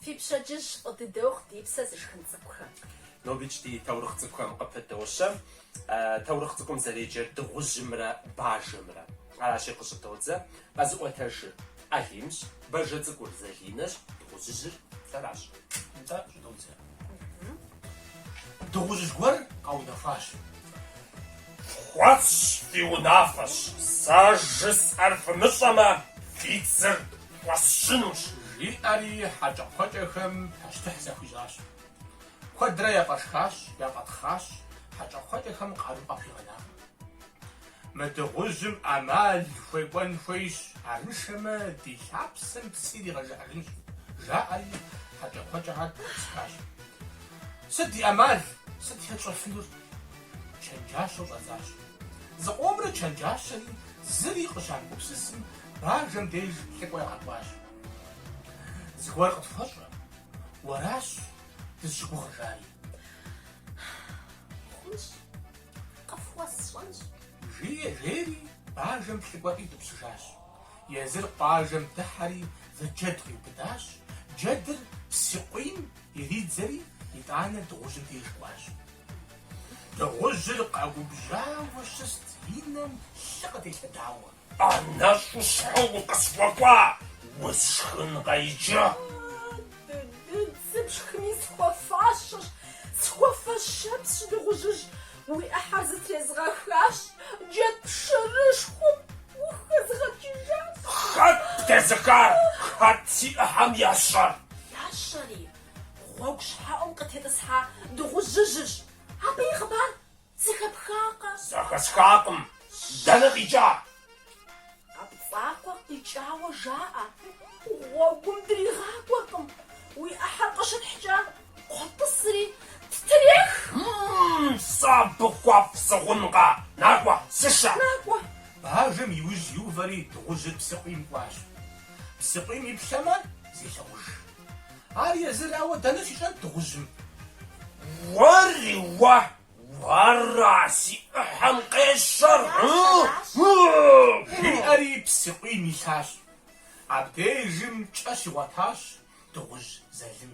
Фи пщэдджыжь фӏы дыдэ ухъу ди псэ зышхын цӏыкӏухэм. Нобикӏ ди таурыхъ цӏыкӏухэм къыпыдощэ. Таурыхъ цӏыкӏум зэреджэр дыгъужьымрэ бажэмрэ. Аращи, къыщӏыдодзэ. Къэзыӏуэтэжыр Алимщ, бажэ цӏыкӏур Залинэщ, дыгъужьыжьыр сэращ. Нтӏэ, щӏыдодзэ. Дыгъужьыжь гуэр къэунэхуащ. Фхуэсщӏ фи унафэщ. Сэ жысӏэр фымыщӏэмэ, фи цыр фӏэсщынущ. Жиӏэри хьэкӏэкхъуэкӏэхэм пащтыхь захуищӏащ. Куэдрэ яфӏэшхащ, яфӏэтхъащ, хьэкӏэкхъуэкӏэхэм къару къахуигъэнакъым. Мы дыгъужьым ӏэмал хуекӏуэн хуейщ. Арыншэмэ, ди лъапсэм псы иригъэжыхьыжынщ, жаӏэри, хьэкӏэкхъуэкӏэхэр тӏысхащ. Сыт ди ӏэмал? Сыт хэтщӏэфынур? Чэнджащэу щӏадзащ. Зыкъомрэ чэнджащэри зыри къыщамыгупсысым, бажэм деж лӏыкӏуэ ягъэкӏуащ. Зыгуэр къытхуэщӏэ, уэращ дызыщыгугъыжари. Хъунщ. Къыфхуэсщӏэнщ. Жие, жери, бажэм лӏыкӏуэр иутӏыпщыжащ. Езыр къуажэм дыхьэри зы джэд къиубыдащ, джэдыр псыкъуийм иридзэри, итӏанэ дыгъужьым деж кӏуащ. Дыгъужьыр къэгубжьауэ щыст и нэм лъы къытелъэдауэ. Ӏэнэщӏу щхьэ укъысхуэкӏуа, усшхынкъэ иджы? Дыдыд, сыпшхыми, схуэфащэщ, схуэфэщэпсщ, дыгъужьыжь, уи ӏыхьэр зытрезгъэхащ, джэд пшэрышхуэм ухэзгъэкӏыжащ. Хэт птезыхар, хэт си ӏыхьэм ещэр? Ещэри, гъуэгу щхьэӏум къытетӏысхьа дыгъужьыжьщ. Абы и хъыбар Зэхэпхакъэ? Зэхэсхакъым. Дэнэ къикӏа? Къэпцӏакъуэ къикӏауэ жаӏэ. Гъуэгум дригъакӏуэркъым. Уи ӏыхьэр къыщытхькӏэ, къотӏысри ттрех. Мм, сэ абы хуэфӏ сыхъункъэ? Накӏуэ, сышэ. Накӏуэ. Бажэм и ужь иувэри дыгъужьыр псыкъуийм кӏуащ. Псыкъуийм иплъэмэ, зелъагъуж. Ар езырауэ дэнэ щищӏэнт дыгъужьым? Уэри уэ, уэра си ӏыхьэм къещэр? жиӏэри псыкъуийм илъащ. Абдежым кӏэ щигъуэтащ дыгъужь залым.